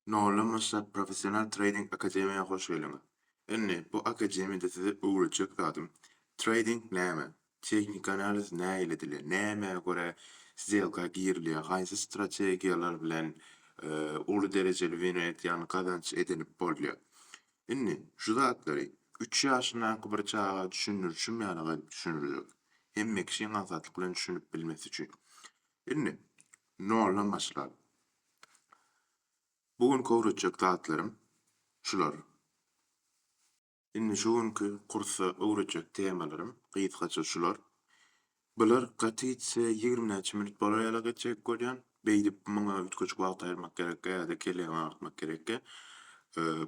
Nolamasa Professional Trading Akademiýa hoş geldiňiz. Indi bu akademiýada size öwredjek zadym, Trading näme, Tehniki analiz nähili edilýär, nämä görä sdelka girilýär, haýsy strategiýalar bilen uly derejeli wino edýän gazanç edinip bolýar. Indi şu zatlary üç ýaşyndaky bir çaga düşündirişim ýaly gaýdyp düşündirjek. Hemme kişiň aňsatlyk bilen düşünip bilmesi üçin. Indi noldan başlaly. Bu gün köwretjek zatlarym şular. Indi şu günki kursa öwredjek temalarym gysgaça şular. Bular gaty gitse ýigrimi näçe minut bolar ýala geçjek bolýan. Beýdip muňa üýtgeşik wagt aýyrmak gerekkä ýa-da kelläňi agyrtmak gerekkä.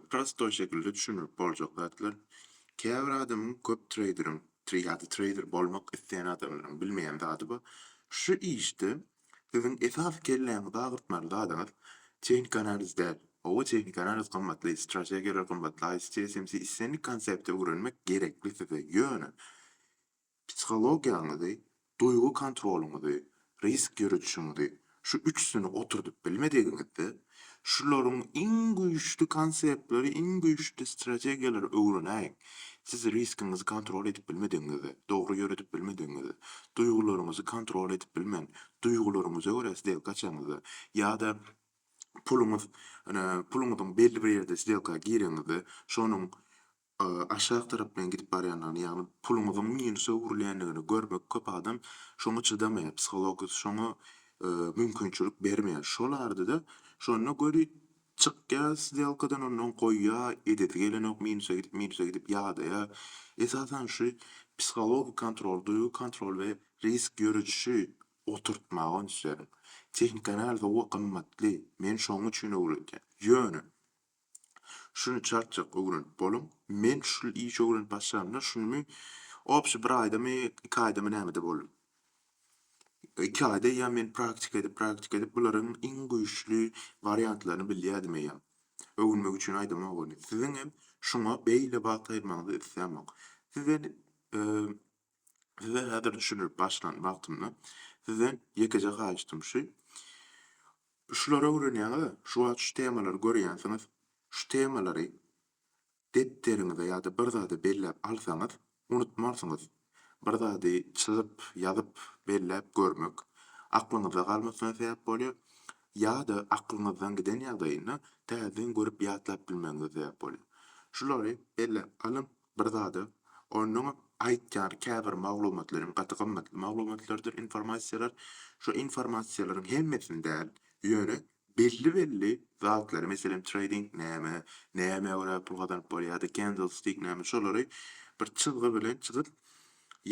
Prostoý şekilde düşünilip boljak zatlar. Käbir adamyň köp treýderiň, ýa-da treýder bolmak isleýän adamlaryň bilmeýän zady bar. Şu işde Siziň esasy kelläňizi agyrtmaly zadyňyz tehniki analiz däl. Hawa, tehniki analiz gymmatly, strategiýalar gymmatly, ICT, SMC, islendik konsepti öwrenmek gerekli size, ýöne psihologiýaňyzy, duýgy kontrolyňyzy, risk ýöredişiňizi, şu üçüsini oturdyp bilmedigiňizde, Şularyň iň güýçli konseptleri, iň güýçli strategiýalary öwrenäýiň. Siz riskiňizi kontrol edip bilmedigiňizde, dogry ýöredip bilmedigiňizde, duýgularyňyzy kontrol edip bilmän, duýgularyňyza görä sdelka açaňyzda ýa-da puluňyz, puluňyzyň belli bir ýerde sdelka gireňizde, şonuň a aşak tarap bilen gidip barýandygyny ýagny puluňyzyň minusa öwrülýändigini görmek köp adam şoňa çydamaýar psihologisi şoňa mümkinçilik bermeýär şol arada şonda gözi çykýar sdelkadan ondan goýýar edesi gelenok minusa gidip minusa gidip ýadaýar esasan şu psihologik kontrol duýgy kontrol we risk ýöredişi oturtmagy öňüslerin tehnika analizi owo gymmatly men şoň üçin öwredýän ýöne Şuny çarçak ögrenip boluň. Men şul işi ögrenip başlamda şunymy obşi bir aýdamy iki aýdamy nämede boldum. Iki aýda eýýäm men praktika edip praktika edip bularyň iň güýçli wariantlaryny bilýädim eýýäm. Öwünmek üçin aýdamok ony. Siziňem şuňa beýle wagt aýyrmagyňyzy islämok. Siz indi Size häzir düşündirip başlan wagtymda sizden ýekeje haýyştym şu, şulary öwrenýäňiz-ä, şu wagt şu temalary görýänsiňiz, şu temalary depderiňize ýa-da bir zada belläp alsaňyz, unutmarsyňyz. Bir zady çyzyp, ýazyp, belläp görmek aklyňyzda galmasyna sebäp bolýar. Ýa-da aklyňyzdan giden ýagdaýynda täzeden görüp ýatlap bilmegiňize sebäp bolýar. Şulary belläp alyň, Bir zada, onuň aýtýan käbir maglumatlaryň gaty gymmatly maglumatlardyr, informasiýalar. Şu informasiýalaryň hemmesini däl, ýöne belli-belli zatlary, meselem, treýding näme, nämä görä pul gazanyp bolýar ýa-da kendlstik näme şolary bir çyzgy bilen çyzyp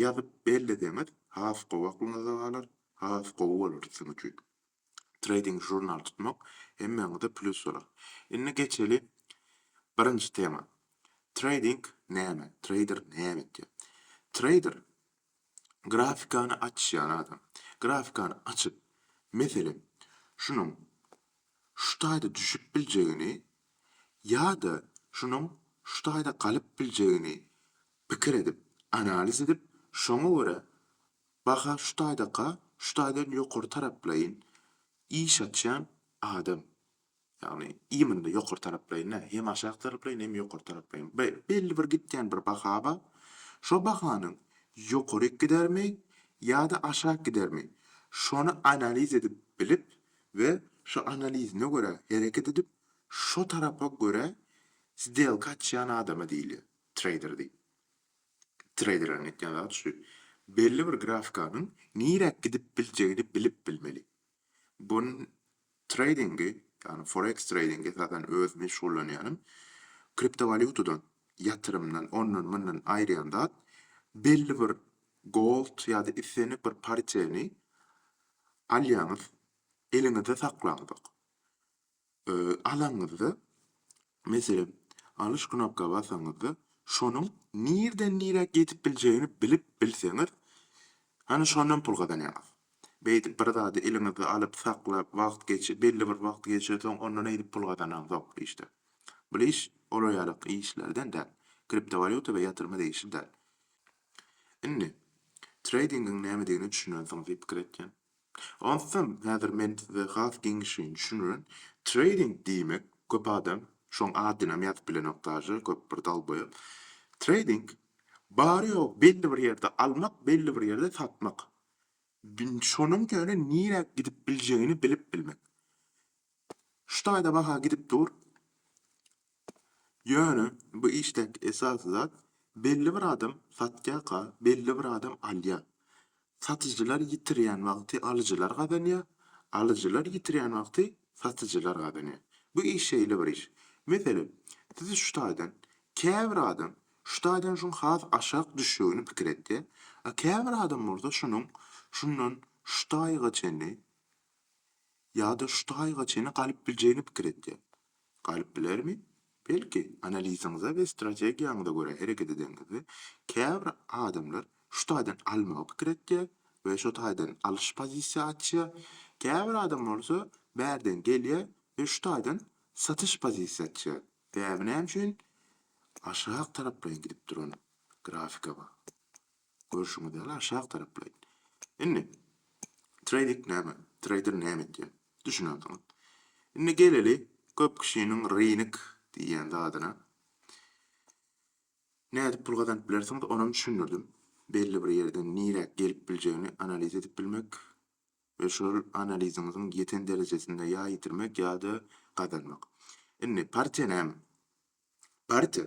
ýazyp belleseňiz has gowy aklyňyzda galar, has gowy bolar siziň üçin. Trading žurnal tutmak hemmäňize plýus bolar. Indi geçeli birinji tema. Trading näme? Trader näme etýär? Trader grafikany açýan adam. Grafikany açyp, meselem, şunuň şu taýda düşüp biljegini ýa-da şunuň şu taýda galyp biljegini pikir edip, analiz edip, şoňa görä Baha şu taýdaka, şu taýdan ýokary taraplaýyn iş açýan adam, ýagny imynda ýokary taraplaýyn däl, hem aşak taraplaýyn, hem ýokary taraplaýyn, be, belli bir gitýän bir baha bar. Şo bahanyň ýokaryk gidermi ýa-da aşak gidermi, şony analiz edip bilip we şo analizine görä hereket edip, şo tarapa görä sdelka açýan adama diýilýär, treýder diýip. treýderleriň etýän zady şu, belli bir grafikanyň niräk gidip biljegini bilip bilmeli. Bu treýdingi, ýagny foreks treýdingi esasan öz meşgullanýanym kriptowalýutadan, ýatyrymdan, ondan, mundan aýyrýan zat, belli bir gold ýa-da islendik bir pariteti alýaňyz, eliňizde saklaňyzok. alaňyzda, meselem, alyş knopka basaňyzda, şonuň nirden nirä gidip biljegini bilip bilseňiz, hany şondan pul gazanýaňyz. Beýdip bir zady eliňizde alyp, saklap, wagt geçip, belli bir wagt geçensoň, ondan eýdip pul gazananzok bu işde. Bul iş olar ýaly işlerden däl. Kriptowalýuta we ýatyrma degişli däl. Indi, treýdingiň nämedigine düşünensiňiz diýip pikir etýän. Onsoň häzir men size has giňişleýin düşündiren. Treýding diýmek, köp adam şoň adynam ýazyp bilenok daže, köp bir dalboýap. Treýding, bary-ýogy belli bir ýerde almak, belli bir ýerde satmak. Şonuň ýöne nirä gidip biljegini bilip bilmek. Şu taýda baha gidip dur. Ýöne bu işdäki esasy zat belli bir adam satýarka belli bir adam alýar. Satyjylar ýitirýän wagty alyjylar gazanýar, alyjylar ýitirýän wagty satyjylar gazanýar. Bu iş şeýle bir iş. Meselem, siz şu taýdan käbir adam şu taýdan şuň has aşak düşjegini pikir etýär, a käbir adam bolsa şunuň şundan şu taýyga çenli Ýa-da şu taýga çenli galyp biljegini pikir etýär. Galyp bilermi? Belki, analiziňize we strategiýaňyza görä hereket edeňizde, käbir adamlar şu taýdan almagy pikir etýär we şo taýdan alyş pozisiýa açýar, käbir adam bolsa bärden gelýär we şu taýdan satyş pozisiýa açýar. Däbi näme üçin aşak taraplaýyn gidip duran grafika bar? Görşüňiz ýaly aşak taraplaýyn. Indi trading näme, trader näme etýär? Düşünersiňiz. Indi geleli köp kişiniň rynek diýýän zadyna. Nädip pul gazanyp bilersiňiz onam düşündirdim. Belli bir ýerden niräk gelip biljegini analiz edip bilmek we şol analiziňiziň ýeten derejesinde ýa ýitirmek ýa-da gazanmak. Indi partiýa näme? Partiýa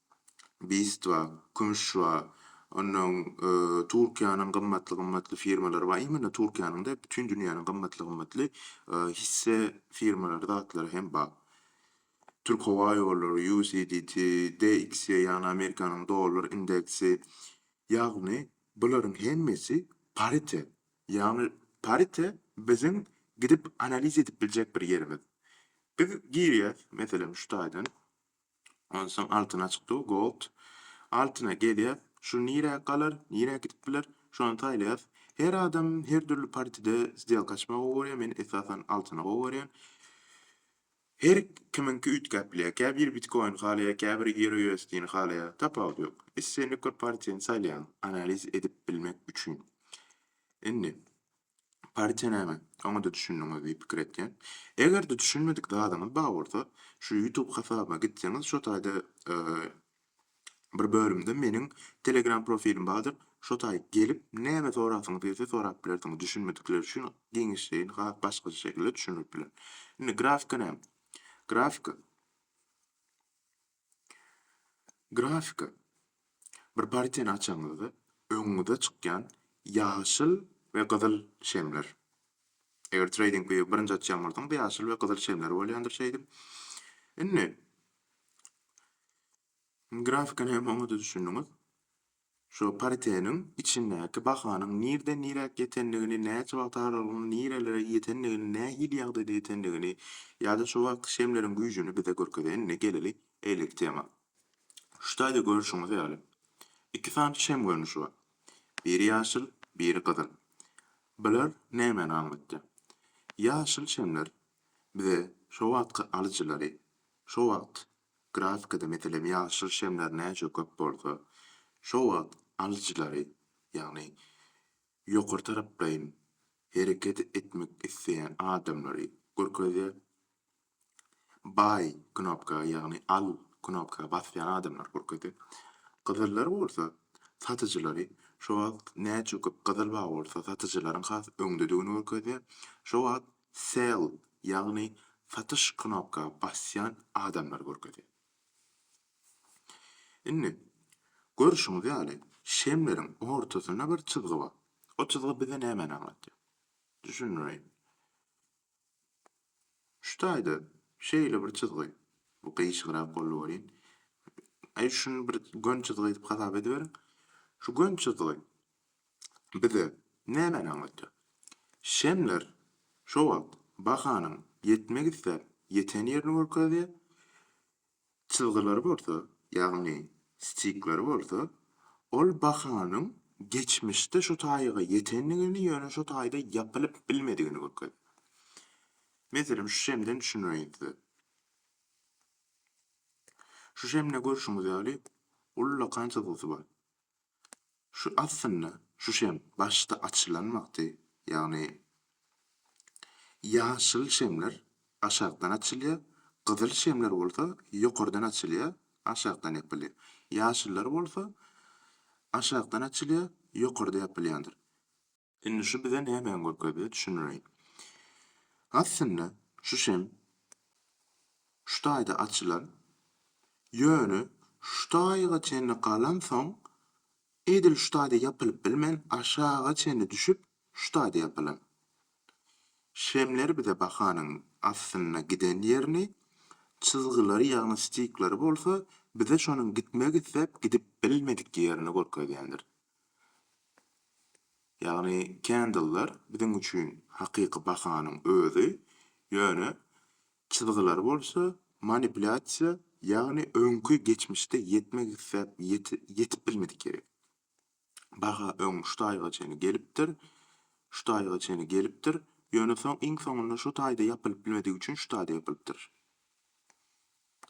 Bistwa, Kümüşwa, onnoň Turkiýanyň gymmatly-gymmatly firmalary bar, imенно Turkiýanyň däl, bütin dünýäniň gymmatly-gymmatly hisse firmalary, zatlary hem bar. Türkhowaýollary, UCDT, DXY, ýagny Amerikanyň dollar indeksi, ýagny bularyň hemmesi parite, ýagny parite biziň gidip analiz edip biljek bir ýerimiz. Biz girýäs, meselem, şu taýdan. Onsoň altyna çykdygy gold. Altyna gezýäs. Şu nirä galar, nirä gidip biler, şony saýlaýas. Her adam her dürli partide sdelka açmagy gowy görýär, men esasan altyny gowy görýän. Her kimiňki üýtgäp bilýär. Käbir bitkoin halaýar, käbiri ýeroýuesdini halaýar. Tapawudy ýok. Islendik bir partiýany saýlaýaň, analiz edip bilmek üçin. Indi. Partiýa näme? Oňa-da düşündiňiz diýip pikir etýän. Eger-de düşünmedik zadyňyz bar bolsa, şu YouTube hasabyma gitseňiz, şo taýda bir bölümde meniň Telegram profilim bardyr, şo taý gelip, näme sorasyňyz gelse sorap bilersiňiz, düşünmedikler üçin giňişleýin has başgaça şekilde düşündirip bilerin. Indi grafika näme? Grafika Grafika bir partiýany açanyňyzda öňüňize çykýan ýaşyl we gyzyl şemler. Eger trading view birinji açýan bolsaňyz ýaşyl we gyzyl şemler bolýandyr şeýdip. Indi grafikany hem oňada düşündiňiz. Şo pariteniň içindäki bahanyň nirden niräk ýetendigini, näçe wagt aralygynda nirelere ýetendigini, nähili ýagdaýda ýetendigini ýa-da şo wagtky şemleriň güýjüni bize görkezen. Indi geleli eýleki tema. Şu taýda görşüňiz ýaly, iki sany şem görnüşi bar. Biri ýaşyl, biri gyzyl. Bular nämäni aňlatýar? Ýaşyl şemler bize şo wagtky alyjylary, şo wagt Grafikada, meselem, ýaşyl şemler näçe köp bolsa, şo wagt alyjylary, ýagny ýokary taraplaýyn hereket etmek isleýän adamlary görkezýär. Buy knopka, ýagny al knopka basýan adamlary görkezýär. Gyzyllar bolsa, satyjylary, şo wagt näçe köp gyzyl bar bolsa, satyjylaryň has öňdedigini görkezýär. Şo wagt Sell, ýagny Satyş knopka basýan adamlary görkezýär. Indi, görşüňiz ýaly, şemleriň ortasynda bir çyzgy bar. O çyzgy bize nämäni aňladýar? Düşündireýin. Şu taýda şeýle bir çyzgy, bu gyýşygrak boldy welin, aý, şuny bir gön çyzgy edip hasap ediberiň. Şu gön çyzgy bize nämäni aňlatýar? Şemler şo wagt bahanyň ýetmek isläp ýeten ýerini görkezýär, çyzgylary bolsa, ýagny stikleri bolsa, ol bahanyň geçmişde şo taýyga ýetendigini, ýöne şo taýda ýapylyp bilmedigini görkezýär. Meselem, şu şemden düşündireýin size. Şu şemde görşüňiz ýaly, ullakan çyzgysy bar. Şu aslynda şuşem başda açylan wagty, ýagny ýaşyl şemler aşakdan açylýar, gyzyl şemler bolsa ýokardan açylýar, aşakdan ýapylýar. Ýaşyllar bolsa aşakdan açylýar, ýokarda ýapylýandyr. Indi şu bize nämäni görkezýär, düşündireýin. Aslynda şu şem şu taýda açylar, ýöne şu taýga çenli galansoň, edil şu taýda ýapylyp bilmän, aşaga çenli düşüp, şu taýda ýapylan. Şemler bize bahanyň aslynda giden ýerini, çyzgylary, ýagny stikleri bolsa bize şonuň gitmek isläp gidip bilmedik ýerini görkezýändir. Ýagny candlelar biziň üçin hakyky bahanyň özi, ýöne çyzgylary bolsa manipulýasiýa, ýagny öňki geçmişde ýetmek isläp ýetip bilmedik ýeri. Baha öň şu taýga çenli gelipdir, şu taýga çenli gelipdir, ýöne soň iň soňunda şu taýda ýapylyp bilmedigi üçin şu taýda ýapylypdyr.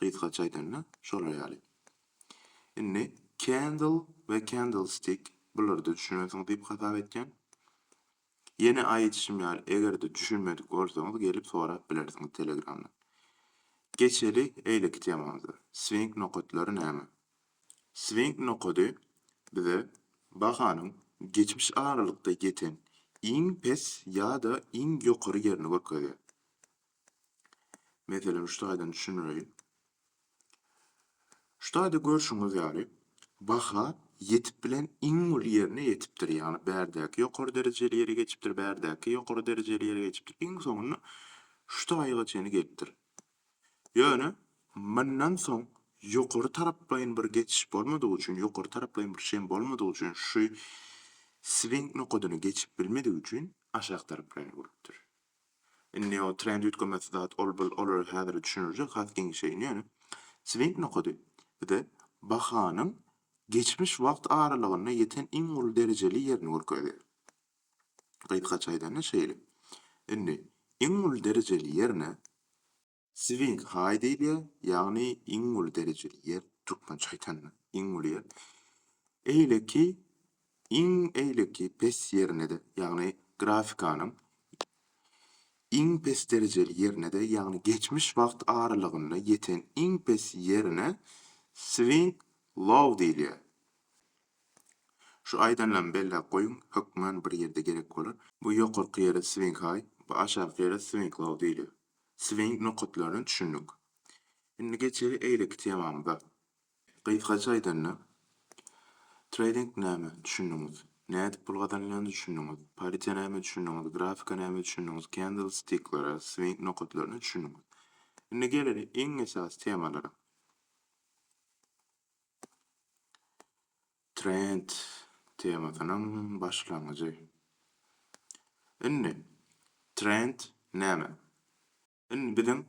Gysgaça aýdanda, şolar ýaly. Indi candle we candlestick bularda düşünensiňiz diýip hasap etýän. Ýene aýdyşym ýaly, eger-de düşünmedik bolsaňyz, gelip sorap bilersiňiz telegramdan. Geçeli eýleki temamyza. Swing nokatlary näme? Swing nokady bize bahanyň geçmiş aralykda ýeten iň pes ýa-da iň ýokary ýerini görkezýär. Meselem, şu taýdan düşündireýin. Şu taýda görşüňiz ýaly, baha ýetip bilen iň uly ýerine ýetipdir. Ýagny bärdäki ýokary derejeli ýere geçipdir, bärdäki ýokary derejeli ýere geçipdir. Iň soňunda şu taýyga çenli gelipdir. Ýöne mundan soň ýokary taraplaýyn bir geçiş bolmadygy üçin, ýokary taraplaýyn bir şem bolmadygy üçin şu swing nokadyny geçip bilmedigi üçin aşak taraplaýyn bolupdyr. Indi o trend üýtgemesi zat ol bil olara häzir düşünirjek has giňişeýin ýöne swing nokady bize bahanyň geçmiş wagt aralygynda ýeten iň uly derejeli ýerini görkezýär. Gysgaça aýdanda şeýle. Indi iň uly derejeli ýerine Swing High diýilýär, ýagny iň uly derejeli ýer, türkmençe aýdanda, iň uly ýer. Eýleki, iň eýleki pes ýerine-de, ýagny grafikanyň iň pes derejeli ýerine-de, ýagny geçmiş wagt aralygynda ýeten iň pes ýerine Swing Low diýilýär. Şu aýdanlarymy belläp goýuň, hökman bir ýerde gerek bolar. Bu ýokarky ýere Swing High, bu aşaky ýere Swing Low diýilýär. Swing nokatlaryna düşündik. Indi geçeli eýleki temamyza. Gysgaça aýdanda, treýding näme, düşündiňiz. Nädip pul gazanylýandyna düşündiňiz. Paritýa näme, düşündiňiz. Grafika näme, düşündiňiz. Kendlstiklere, swing nokatlaryna düşündiňiz. Indi geleli iň esasy temalara. Trend temasynyň başlangyjy. Indi, trend näme? Indi biziň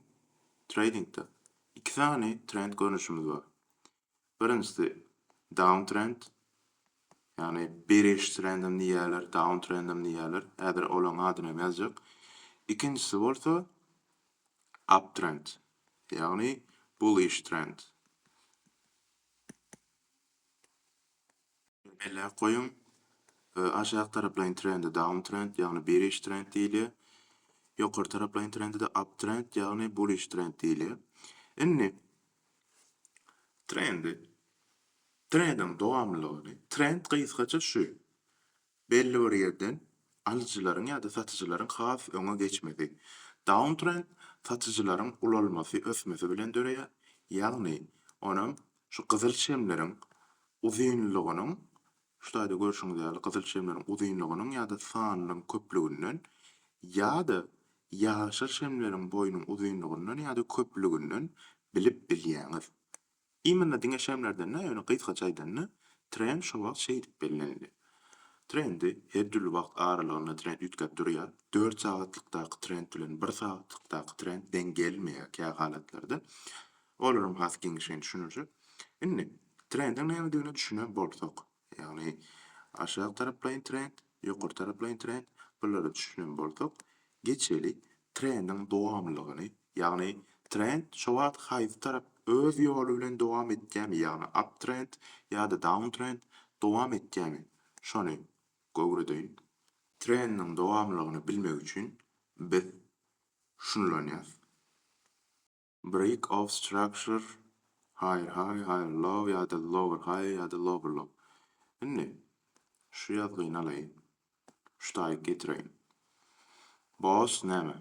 treýdingde iki sany trend görnüşimiz bar. Birinjisi down trend, ýagny beriş trendem diýýärler, down trendem diýýärler, häzir olaryň adyny hem ýazjak. Ikinjisi bolsa up trend, ýagny bullish trend. Belläp goýuň, aşak taraplaýyn trende downtrend, ýagny bearish trend diýilýär. Ýokary taraplaýyn trende-de uptrend, ýagny bullish trend diýilýär. Indi trendi, trendiň dowamlylygyny, trend gysgaça şu, Belli bir ýerden alyjylaryň ýa-da satyjylaryň has öňe geçmesi. Downtrend satyjylaryň ulalmasy ösmesi bilen döreýär, ýagny onam şu gyzyl çemleriň uzynlygynyň, şu taýda görşüňiz ýaly gyzyl çemleriň uzynlygynyň ýa-da sanynyň köplüginden ýa-da ýaşyl çemleriň boýunyň uzynlygyndan ýa-da köplüginden bilip bilýäňiz. Imенно diňe şemlerden däl, ýöne gysgaça aýdanda, trend şo wagt şeýdip bellendi. Trendi, her dürli wagt aralygynda trend üýtgäp durýar. Dört sagatlykdaky trend bilen bir sagatlykdaky trend deň gelmeýär kä halatlarda. Olaram has giňişleýin düşüniljek. Indi, trendiň nämedigine düşünen bolsak, Ýagny, aşak taraplaýyn trend, ýokary taraplaýyn trend, bulara düşünen bolsak, geçeli trendiň dowamlylygyny, ýagny trend şo wagt haýsy tarap öz ýoly bilen dowam etýärmi, ýagny uptrend ýa-da downtrend dowam etýärmi, şony göwredeýin. Trendiň dowamlylygyny bilmek üçin biz şunulanýas. Break of structure, Higher high, higher low ýa-da lower high ýa-da lower low. Indi şu ýazgyny alaýyn. Şu taýyk getireýin. Boss näme?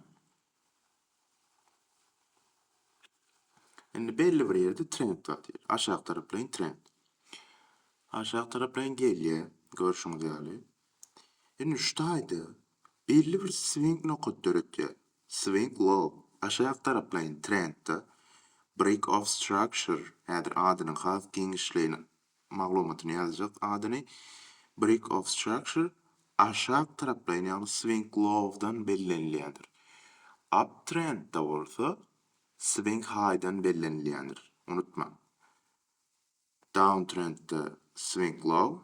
Indi belli bir ýerde trend bar diýeli. Aşak taraplaýyn trend. Aşak taraplaýyn gelýär, görşüňiz ýaly. Indi şu taýda belli bir swing nokat döretýär. Swing Low, aşak taraplaýyn trendde, Break of Structure, häzir adynyň has giňişleýin maglumatyny ýazjak adyny, Break of Structure, aşak taraplaýyn ýagny Swing Lowdan bellenilýändir. Up trendde bolsa Swing Highdan bellenilýändir. Unutmaň. Downtrendde swing low,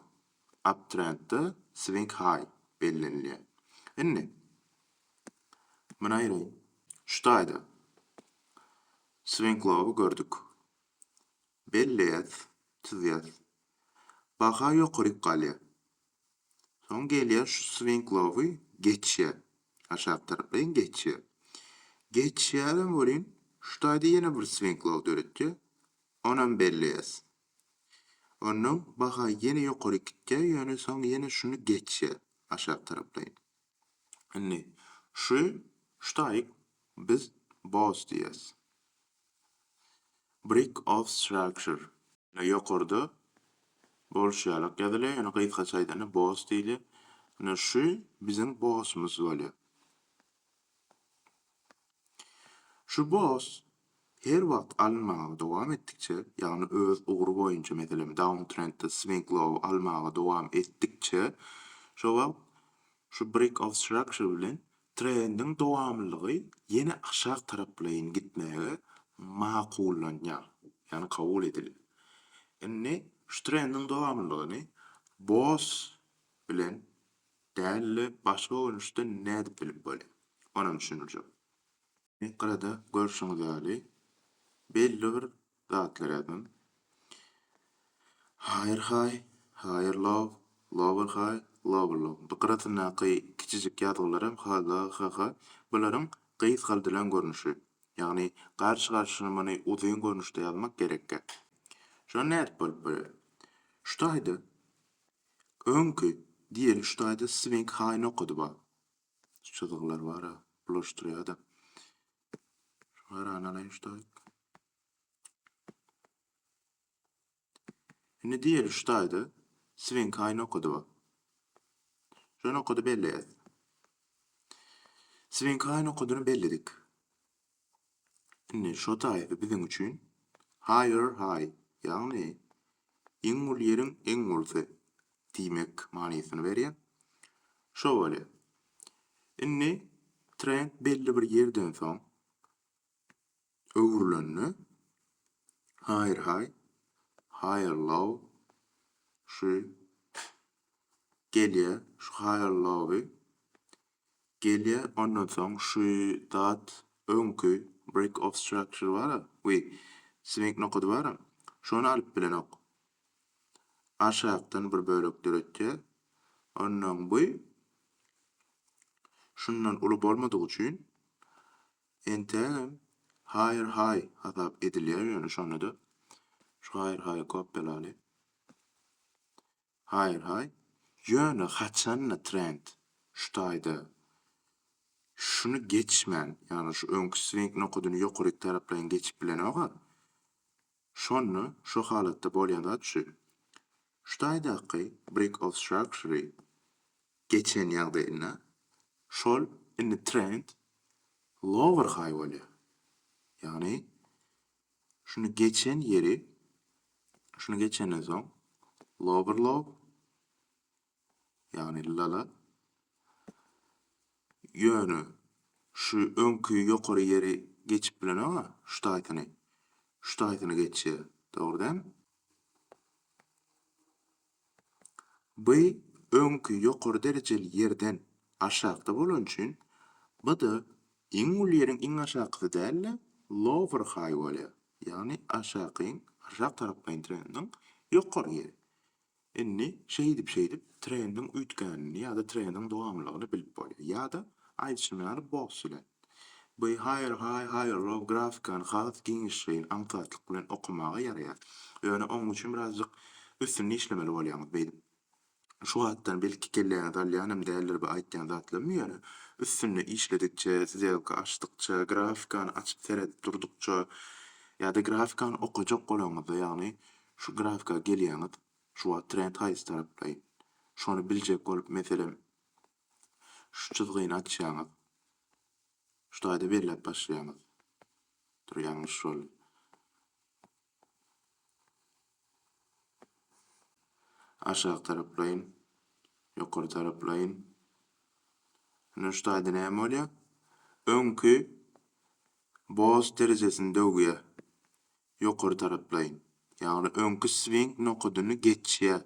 uptrendde swing high bellenilýär. Indi, muny aýraýyn. Şu taýda swing low-y gördük. Belleýäs, çyzýas. Baha ýokaryk galýar. Soň gelýär şu swing low-y geçýär. Aşak taraplaýyn geçýär. Geçýärem welin, şu taýda ýene bir swing low döretýär. Onam belleýäs. Onda baha ýene ýokary gitýär, ýöne soň ýene şuny geçýär aşak taraplaýyn. Indi şu şu taýyk biz BOS diýýäs. Brick of Structure. Ýokarda bolşy ýalak ýazylýar, ýöne gysgaça aýdanda BOS diýilýär. Indi şu biziň BOS-umyz bolýar. Şu boss her wagt alynmaga dowam etdikçe, ýagny öz ugry boýunça meselem downtrendde swing low almaga dowam etdikçe, şo wagt şu break of structure bilen trendiň dowamlylygy ýene aşak taraplaýyn gitmäge makullanýar, ýagny kabul edilýär. Indi şu trendiň dowamlylygyny boss bilen Däli başga görnüşde nädip bilip bolýar? Onam düşündirjek. Enkarada görşüňiz ýaly belli bir zatlar ýazan. Higher high, higher low, lower high, lower low. Bu gyrasyndaky kiçijik ýazgylaram hg hh bularyň gysgaldylan görnüşi. Ýagny garşy-garşyna muny uzyn görnüşde ýazmak gerekkä. Şony nädip bolup bolýar? Şu taýda Öňki, diýeli şu taýda Swing High-ny okady ba. Şu çyzgylar bar-a, bulaşdyrýa-da. Şu garany alaýyn şu taýda. Indi diýeli şu taýda Swing High-ny okady ba. Şony okady belleýäs. Swing High-ny okadyny belledik. Indi şo taýpy biziň üçin higher high, ýagny iň uly ýeriň iň ulysy diýmek manysyny berýär. Şo bolýar. Indi trend belli bir ýerden soň öwrülende higher high, higher low şu gelýär. Şu higher lowy Gelýä ondan soň şu dat öňki break of structure bara we swing nokady bara şony alyp bilenok. Aşakdan bir bölek döretýä. Ondan bu şundan uly bolmadygy üçin entägem higher high hasap edilýär ýöne şonda-da şu higher high-y kopýalaly. Haýr-haý. Ýöne haçan-da trend şu taýda şuny geçmän, ýagny şu öňki swing nokadyny ýokaryk taraplaýyn geçip bilenok-a. Şonda şu halatda bolýan zat şu. Şu taýdaky break of structure-y geçen ýagdaýynda şol indi trend lower high bolýar. Ýagny Şuny geçen ýeri, şuny geçenden soň lower low, ýagny lala, ýöne şu öňki ýokary ýeri geçip bilenok-a, şu taýsyny, şu taýsyny geçýär, dogry dälmi? By öňki ýokary derejeli ýerden aşakda bolany üçin by-da iň uly ýeriň iň aşakysy däl-de, lower high bolýar. Ýagny aşakyň, aşak taraplaýyn trendiň ýokary ýeri. Indi şeýdip-şeýdip trendiň üýtgänini ýa-da trendiň dowamlylygyny bilip bolýar. Ýa-da aýdyşym ýaly boss ile. Bu Haýyr Haý Haýyrlow grafikany has giňişleýin aňsatlyk bilen okamaga ýaraýar. Ýöne oň üçin birazjyk üstünde işlemeli bolýaňyz beýdip. Şu wagtdan belki kelläňizi alýanam däldir bu aýtýan zatlarym ýöne üstünde işledikçe, sdelka açdykça, grafikany açyp seredip durdukça ýa-da grafikany okajak bolaňyzda ýagny şu grafika gelýäňiz şu wagt trend haýsy taraplaýyn şony biljek bolup meselem Şu çyzgyny açýaňyz. Şu taýda belläp başlaýaňyz. Dur, ýalňyş boldy. Aşak taraplaýyn, ýokary taraplaýyn. Indi şu taýda näme bolýar? Öňki boz derejesini döwýär. Ýokary taraplaýyn. Ýagny öňki swing nokadyny geçýär.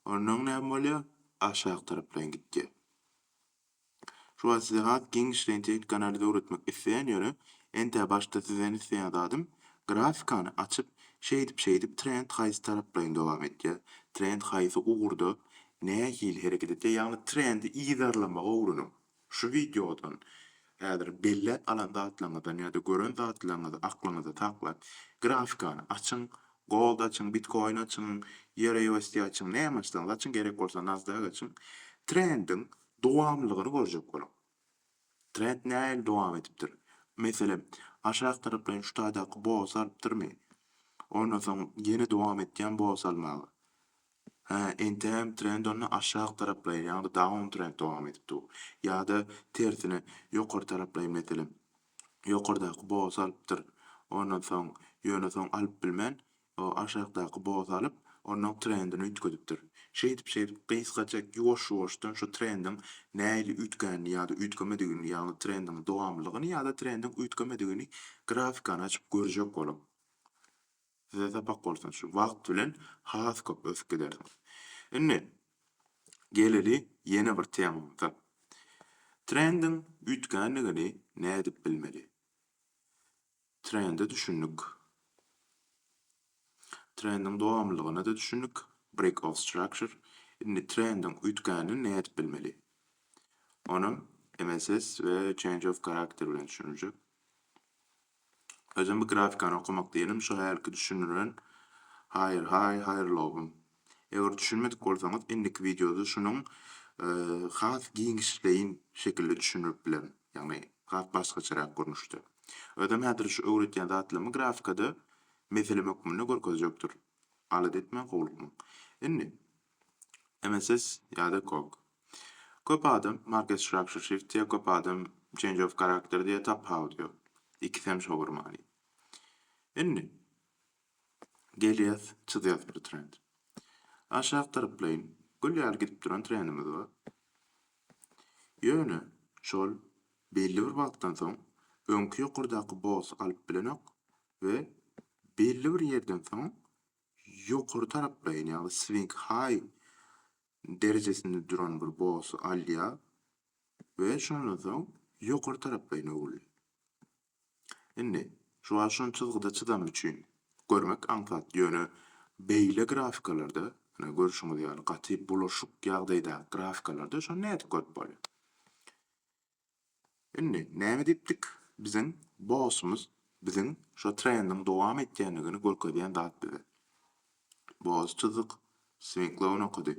Onnoň näme bolýar? Aşak taraplaýyn gitýär. Şu wagt size has giňişleýin tehniki analiz öwretmek isleýän ýöne entä başda sizden isleýän zadym grafikany açyp şeýdip şeýdip trend haýsy taraplaýyn dowam etýär, trend haýsy ugurda nähili hereket etýär ýagny trendi yzarlamagy öwreniň. Şu wideodan häzir belläp alan zatlaryňyzdan ýa-da gören zatlaryňyzy aklyňyzda saklap, grafikany açyň, Gold açyň, Bitcoin açyň, EURUSD açyň, näme açsaňyz açyň, gerek bolsa Nasdaq açyň. Trendiň dowamlylygyny görjek boluň. Trend nähili dowam edipdir? Meselem, aşak taraplaýyn şu taýdaky boss alypdyrmy? Ondan soň ýene dowam etýän boss almaga. Hä, entägem trend onda aşak taraplaýyn, ýagny down trend dowam edip dur. Ýa-da, tersine, ýokary taraplaýyn, meselem, ýokardaky bosy alypdyr, ondan soň, ýöne soň alyp bilmän, o aşakdaky bosy alyp, onuň trendini üýtgedipdir. Şeýdip-şeýdip, gysga çek, ýuwaş-ýuwaşdan şu trendiň nähili üýtgänini ýa-da üýtgemedigini, ýagny trendiň dowamlylygyny ýa-da trendiň üýtgemedigini grafikany açyp görjek boluň. Size sapak bolsun, şu wagt bilen has köp ösüp gidersiňiz. Indi geleli ýene bir temamyza. Trendiň üýtgändigini nädip bilmeli? Trende düşündik. Trendiň dowamlylygyna-da düşündik. Break of structure. Indi trendiň üýtgänini nädip bilmeli? Onam MSS we change of character bilen düşüniljek. Özem bu grafikany okamak diýenim şo hälki düşündiren Haýyr haý haýyrlowym. Eger düşünmedik bolsaňyz indiki wideoda şunuň has giňişleýin şekilde düşündirip bilerin. Ýagny has başgaçarak görnüşde. Özem häzir şu öwretýän zatlarymy grafikada meselem hökmünde görkezjek durun. Alada etmäň howlukmaň. Indi, MSS ýa-da Kok. Köp adam Market Structure Shift diýýär, köp adam Change of Character diýýär, tapawut ýok. Ikisem şolar many. Indi, gelýäs, çyzýas bir trend. Aşak tarplaýyn gül ýaly gidip duran trendimiz bar. Ýöne, şol belli bir wagtdan soň öňki ýokardaky boss alyp bilenok, we belli bir ýerden soň ýokary taraplaýyn, ýagny swing high derejesinde duran bir bossy alýar we şondan soň ýokary taraplaýyn öwrülýär. Indi şu wagt şon çyzgyda çyzany üçin görmek aňsat, ýöne beýle grafikalarda, ine görşüňiz ýaly gaty bulaşyk ýagdaýdaky grafikalarda şony nädip görüp bolýar? Indi näme diýipdik? Biziň bossumyz biziň şo trendiň dowam etýändigini görkezýän zat bize. Boss çyzyk, Swinklou nokady,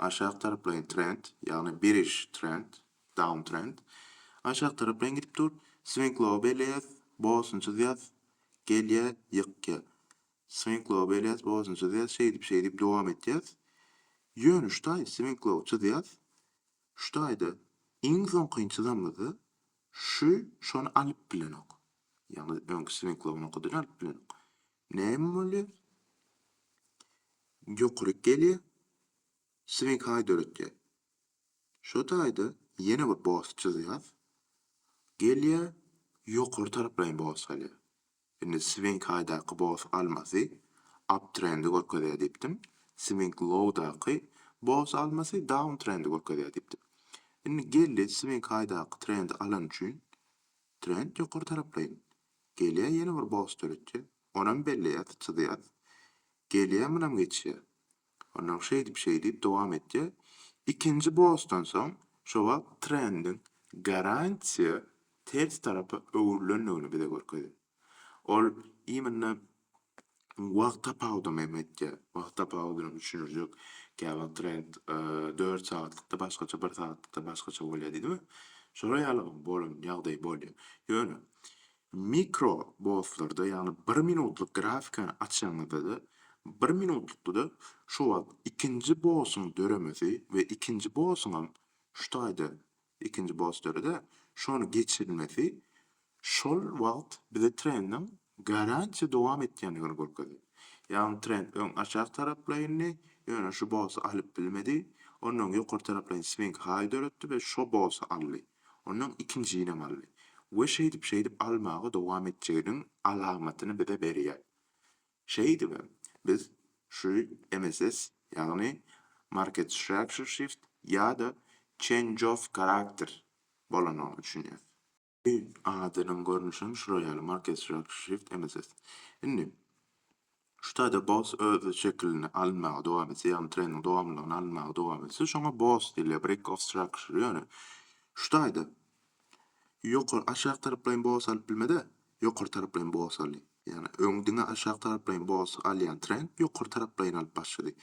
aşak taraplaýyn trend, ýagny biriş trend, downtrend, aşak taraplaýyn gidip dur, Swinklou belleýäs, bossuny çyzýas, gelýä, ýykýa. Swinklou belleýäs, bossuny çyzýas, şeýdip-şeýdip dowam etýäs. Ýöne şutaý Swinklou çyzýas, Şu taýda iň soňky inçilamyzda şu şony alyp bilenok. Ýagny öňki swinklowyny okadan alyp bilenok. Näme bolýar? Ýokaryk gelýär. Swink haý döretýär. Şu taýda ýene bir bos çyzýas. Gelýär, ýokary taraplaýyn bos salýar. Indi Swing-Highdaky Boss almasy Uptrendi görkezýär diýipdim. Swing-Low-daky Boss almasy Downtrendi görkezýär diýipdim. Indi geldi Swing-Highdaky trendi alany üçin trend ýokary taraplaýyn. Gelýär ýene bir Boss döretýär. Onam belleýäs, çyzýas. Gelýär munam geçýär. Onsoň şeýdip-şeýdip dowam etýär. Ikinji bosdan soň şo wagt trendiň garantiýa ters tarapa öwrülendigini bize görkezýär. Ol imенно wagt tapawudam hem etýär. Wagt tapawudyny düşündirjek käwagt trend dört sagatlykda başgaça, bir sagatlykda başgaça bolýar diýdimi? Şolar ýaly bolan ýagdaý bolýar. Ýöne Mikro botlarda, ýagny bir minutlyk grafikany açaňyzda-da, bir minutlykda-da şo wagt ikinji botyň döremesi we ikinji botyňam şu taýda ikinji bot döredi, şony geçirilmesi şol wagt bize trendiň garantiýa dowam etýändigini görkezýär. Ýagny trend öň aşak taraplaýyndy, ýöne şu boty alyp bilmedi, ondan öň ýokary taraplaýyn swing-high döretdi we şo boty aldy. Ondan ikinjinem aldy. We şeýdip-şeýdip almaga dowam etjeginiň alamatyny bize berýär. Şeýdibem, biz şu MSS, ýagny Market Structure Shift ýa-da Change of Character bolanyna düşünýäs. Adynyň görnüşem şular ýaly, Market Structure Shift MSS. Indi, Şu taýda boss öz şekilini alynmaga dowam etse, ýagny treniň dowamlylygyny alynmaga dowam etse, şoňa boss diýilýär, break of structure. Ýöne şu taýda ýokary, aşak taraplaýyn boss alyp bilmez-ä, ýokary taraplaýyn boss aldy. Ýagny öň diňe aşak taraplaýyn boss alýan trend ýokary taraplaýyn alyp başlady.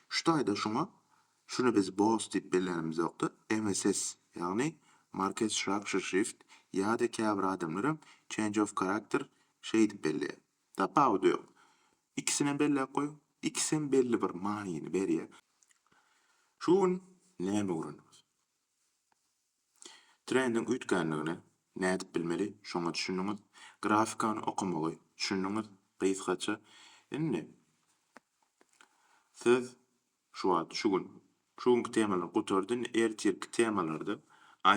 Şu taýda şoňa, şuny biz boss diýip bellänimiz ýokda, MSS, ýagny market structure shift ýa-da käbir adamlar hem change of character şeýdip belleýär. Tapawudy ýok. Ikisinem belläp goýuň. Ikisem belli bir manyny berýä. Şu gün näme öwrendiňiz? Trendiň üýtgänligini nädip bilmeli, şoňa düşündiňiz. Grafikany okamagy düşündiňiz gysgaça. Indi Siz Şu wagt şu gün. Şu günki temalar gutardy indi ertirki temalarda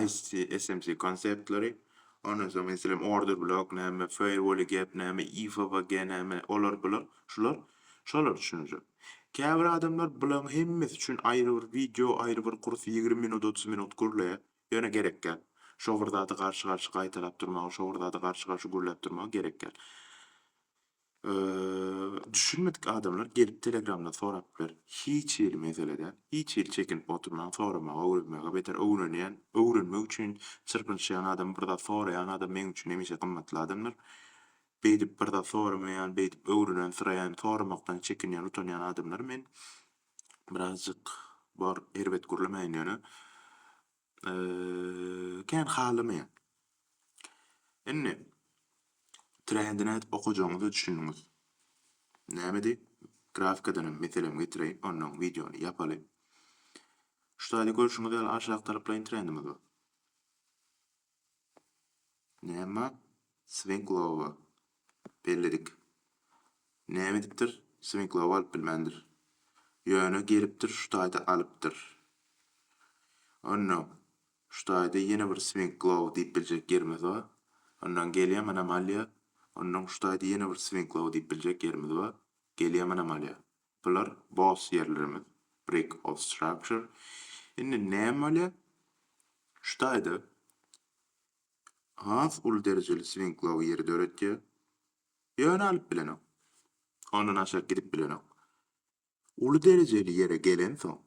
ISC SMC konsertleri ondan soň meselem order blok näme feirwoli gep näme IFVG näme olar bular şular şolar düşünjek käbir adamlar bulaň hemmesi üçin aýry bir wideo aýry bir kurs ýigrimi minut otuz minut gürleýär ýöne gerekgäl şo bir zady garşy garşy gaýtalap durmagy şo bir zady garşy garşy gürläp durmagy gerekgäl. Düşünmedik adamlar gelip telegramda sorap biler hiç hili mesele däl hiç hili çekinip oturmaň soramagy öwrenmegi beter öwrenýän öwrenmek üçin çyrpynyşýan adam bir zat soraýan adam meň üçin hemişe gymmatly adamdyr beýdip bir zat soramaýan beýdip öwrenen syraýan soramakdan çekinýän utanýan adamlary men birazjyk bar erbet gürlemäýin ýöne kän halamaýan. Indi trendine okajagyňyza düşündiňiz. Nämedi? Grafikadanam meselem getireýin, ondan wideony ýapaly. Şu taýda görşüňiz ýaly aşak taraplaýyn trendimiz bar. Näme? Swing lower. belledik. Näme edipdir, swiňklap alyp bilmändir. Ýöne gelipdir şu taýda alypdyr. Onnoň, şu taýda ýene bir swiňklap diýip biljek ýerimiz bar. Onnoň gelýäm anomalýa. Onnoň şu taýda ýene bir swiňklap diýip biljek ýerimiz bar. Gelýäm anomalýa. Bular boss ýerlerimiz, brick of structure. Indi näme bolýar? Şu taýda has uly derejeli swiňklow ýeri döretýär. Ýöne alyp bilenok. Ondan aşak gidip bilenok. Uly derejeli ýere gelensoň,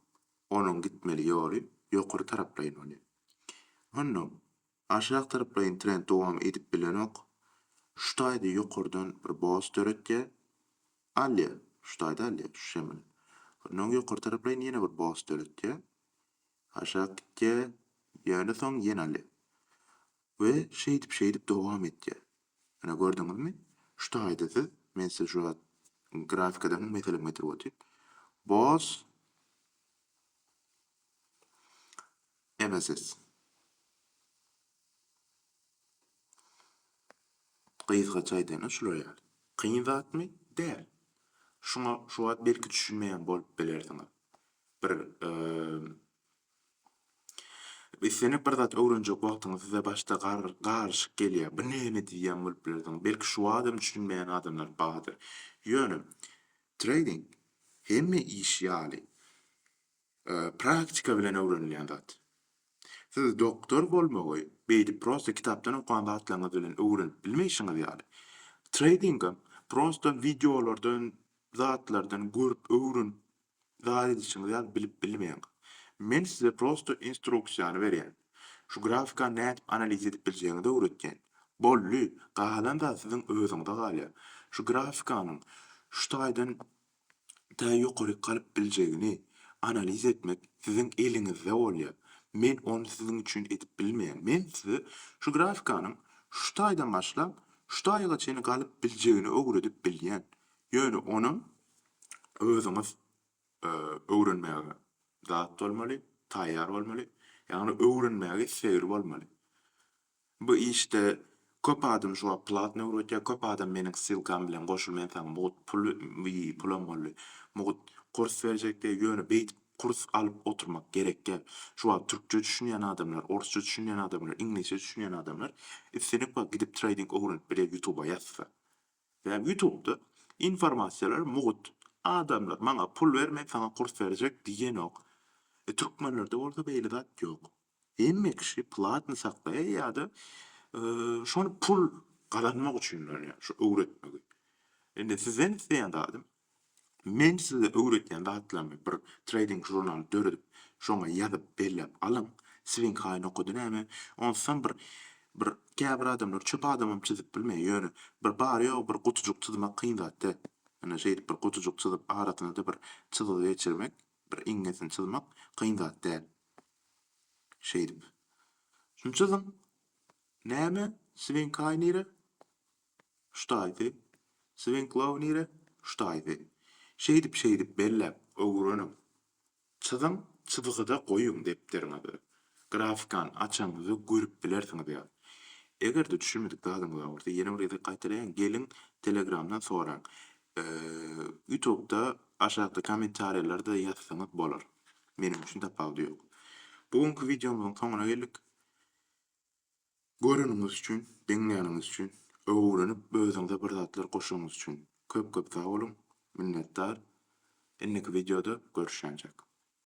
onuň gitmeli ýoly ýokary taraplaýyn bolýar. Ondan aşak taraplaýyn trend dowam edip bilenok. Şu taýda ýokardan bir boss döretýär. Alýar. Şu taýda alýar, şu şemini. Ondan ýokary taraplaýyn ýene bir boss döretýär. Aşak gitýär, ýöne soň ýene alýar. We şeýdip-şeýdip dowam etýär. Ine, gördüňizmi? Şu taýda siz, men size şu wagt grafikadan bir meselem getirip otyryn. Boss MSS. Gysgaça aýdanda şular ýaly. Kyn zatmy? Däl. Şuňa şu wagt belki düşünmeýän bolup bilersiňiz. bir islenip bir zat öwrenjek wagtyňyz size başda garyşyk gelýär. Bu näme diýýän bolup bilersiň. Belki şu adam düşünmeýän adamlar bardyr. Ýöne treýding hemme iş ýaly praktika bilen öwrenilýän zat. Siz doktor bolmagy beýdip prosta kitapdan okan zatlaryňyz bilen öwrenip bilmeýşiňiz ýaly, treýdingem prosta wideolardan zatlardan görüp öwrün zat edişiňiz ýaly bilip bilmeýäň. Men size prosto instruksiýany berýän. Şu grafikany nädip analiz edip biljegiňizi öwretýän. Boldy, galan zat siziň özüňize galýar. Şu grafikanyň şu taýdan tä ýokaryk galyp biljegini analiz etmek siziň eliňizde bolýar. Men ony siziň üçin edip bilmeýän. Men size şu grafikanyň şu taýdan başlap şu taýga çenli galyp biljegini öwredip bilýän. Ýöne ony özüňiz öwrenmäge dat bolmaly, taýýar bolmaly, ýagny öwrenmäge islegli bolmaly. Bu işde köp adam şu wagt platny öwredýär, köp adam meniň ssylkam bilen goşul men saňa mugt pul pulam boldy, mugt kurs berjek diýýär, ýöne beýdip kurs alyp oturmak gerek däl. Şu wagt türkçe düşünýän adamlar, orsça düşünýän adamlar, iňlisçe düşünýän adamlar islendik wagt gidip treýding öwrenip biler ýutuba ýazsa. Sebäbi ýutubda informasiýalar mugt, adamlar maňa pul ber men saňa kurs berjek diýenok. E türkmenlerde bolsa beýle zat ýok. Hemme kişi platny saklaýar ýa-da şony pul gazanmak üçin öwretmegi. Indi sizden isleýän zadym Men size öwretýän zatlarymy bir treýding žurnaly döredip, şoňa ýazyp belläp alyň. Siziň haýyn okady näme? Onsam bir bir käbir adamlar çöp adamam çyzyp bilmeýär. Ýöne bir bary-ýogy bir gutujyk çyzmak kyn zat-dä. Ine, şeýdip bir gutujyk çyzyp, arasyna-da bir çyzgy geçirmek, bir iňňesini çyzmak kyn zat däl. Şeýdip. Şuny çyzyň. Näme? Swinkay nire? Ştaýzy, Swinklow nire, ştaýzy. Şeýdip-şeýdip belläp, öwreniň. Çyzyň, çyzgyda goýuň depderiňizi. Grafikany açanyňyzda görüp bilersiňiz ýa. Eger-de düşünmedik zadyňyz bar bolsa, ýene bir gezek gaýtalaýyn, geliň, Telegramdan soraň. Ýutubda aşakda kommentariýalarda ýazsaňyz bolar. Meniň üçin tapawudy ýok. Bu günki wideomyzyň soňuna geldik. Göreniňiz üçin, diňläniňiz üçin, öwrenip özüňize bir zatlar goşanyňyz üçin köp köp sag boluň, minnetdar. Indiki wideoda görüşýänçäk.